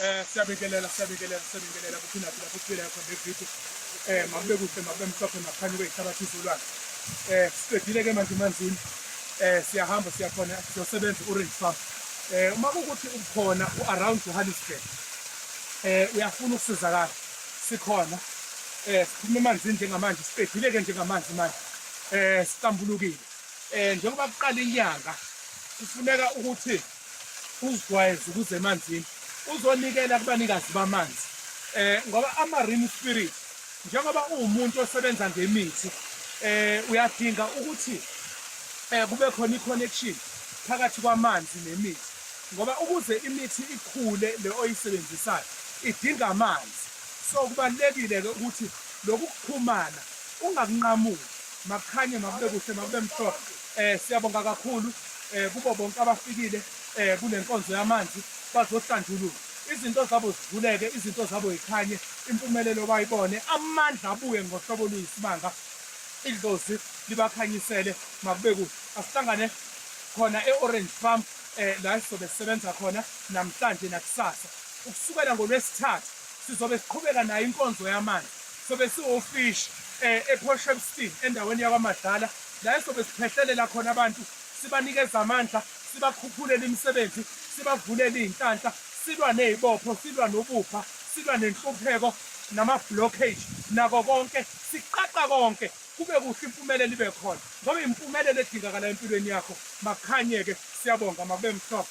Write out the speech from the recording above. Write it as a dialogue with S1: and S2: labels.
S1: Eh siyabingelela siyabingelela siyabingelela kuphina phila futhi phila yakho nevideo. Eh makube kuhle makube mhlophe maphani kwehlabathi izolwana. Eh siqedile ke manje manzini. Eh siyahamba siyakhona siyosebenza orange farm. Eh uma kukuthi ukhona uaround Johannesburg. Eh uyafuna ukusizakala sikhona. Eh siphuma emanzini njengamanje siqedile ke njengamanzi manje. Eh siqambulukile. Eh njengoba kuqala inyanga kufuneka ukuthi uzijwayeze ukuza emanzini uzonikela kubanikazi bamanzi eh ngoba ama-rim spirit njengoba uwumuntu osebenza ngemithi eh uyadinga ukuthi eh kube khona i-connection phakathi kwamanzi nemithi ngoba ukuze imithi ikhule le oyisebenzisayo idinga amanzi so kubalulekile-ke ukuthi lokhu kuxhumana ungakunqamuli makukhanye makube kuhle makube mhlophe um siyabonga kakhulu um kubo bonke abafikile um kule nkonzo yamanzi bazohlanjululwa izinto zabo zivuleke izinto zabo yikhanye impumelelo bayibone amandla abuye ngohlobo oluyisimanga idlozi libakhanyisele makube kuhle asihlangane khona e-orange farm um la sizobe sisebenza khona namhlanje nakusasa ukusukela ngolwesithathu sizobe siqhubeka nayo inkonzo yamanzi sobe siwofishi um eh, eport shepstein endaweni yakwamadlala la esobe siphehlelela khona abantu sibanikeza amandla sibakhuphulele imisebenzi sibavulele iy'nhlanhla silwa ney'bopho silwa nobubha silwa nenhlupheko nama-blockage nako konke siqaqa konke kube kuhle impumelelo ibe khona ngoba impumelelo edingakalayo empilweni yakho makukhanye-ke siyabonga makube mhlophe